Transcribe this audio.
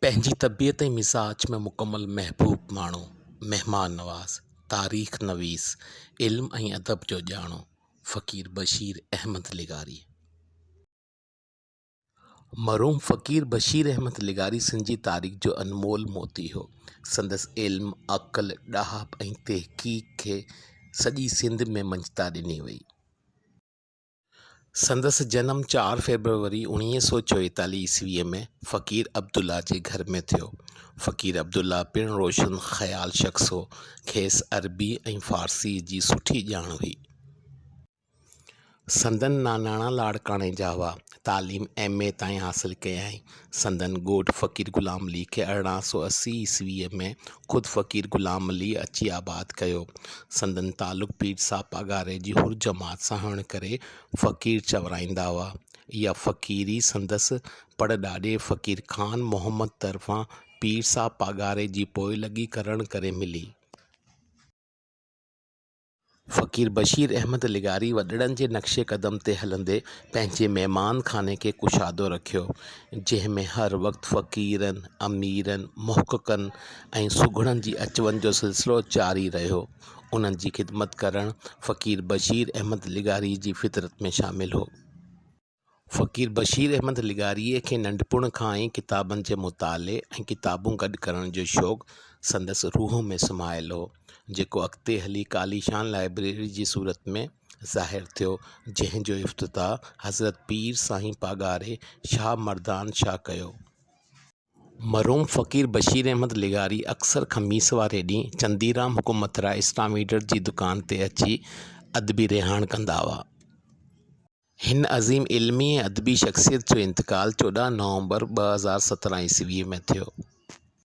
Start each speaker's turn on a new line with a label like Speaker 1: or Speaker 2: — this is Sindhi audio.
Speaker 1: پنهنجي طبيعت ۽ مزاج ۾ مڪمل محبوب ماڻهو، مهمان نواز، تاريخ نويس، علم ۽ ادب جو ڄاڻو فقير بشير احمد لغاري. مرحوم فقير بشير احمد لغاري سنڌ جي تاريخ جو انمول موتي هو. سندس علم، عقل، ڏاهپ ۽ تحقيق کي سڄي سنڌ ۾ مڃتا ڏني وئي. سندس جنم چار فيبروري اوڻيهه سؤ چويتاليهه عيسويء ۾ فقير عبدالله جي گهر ۾ ٿيو. فقير عبدالله پڻ روشن خيال شخص هو. کيس عربي ۽ فارسيء جي سٺي ڄاڻ هئي. سندن ناناڻا لاڙڪاڻي جا هئا. تعليم ايم. اي تائين حاصل ڪيائين. سندن ڳوٺ فقير غلام علي کي ارڙهن سؤ اسي عيسويء ۾ خود فقير غلام علي اچي آباد ڪيو. سندن تعلق پير صاحب پاڳاري جي حر جماعت سان هئڻ ڪري فقير چورائيندا هئا. اها فقيري سندس پڙ ڏاڏي فقير خان محمد طرفان پير صاحب پاڳاري جي پوئلڳي ڪرڻ ڪري ملي. فقير بشير احمد لغاري وڏڙن جي نقش قدم تي هلندي پنهنجي مهمان خاني کي ڪشادو رکيو، جنهن ۾ هر وقت فقيرن، اميرن، محققن ۽ سگهڙن جي اچ وڃ جو سلسلو جاري رهيو. انهن جي خدمت ڪرڻ فقير بشير احمد لغاري جي فطرت ۾ شامل هو. فقير بشير احمد لغاريء کي ننڍپڻ کان ئي ڪتابن جي مطالعي ۽ ڪتابون گڏ ڪرڻ جو شوق سندس روح ۾ سمايل هو، جيڪو اڳتي هلي عاليشان لائبريري جي صورت ۾ ظاهر ٿيو، جنهن جو افتتاح حضرت پير سائين پاڳاري شاهه مردان شاهه ڪيو. مرحوم فقير بشير احمد لغاري اڪثر خميس واري ڏينهن چنديرام حڪومتراء اسلام ايڊر جي دڪان تي اچي ادبي رهاڻ ڪندا هئا. هن عظيم علمي ۽ ادبي شخصيت جو انتقال چوڏهن نومبر ٻه هزار سترهن عيسويء ۾ ٿيو.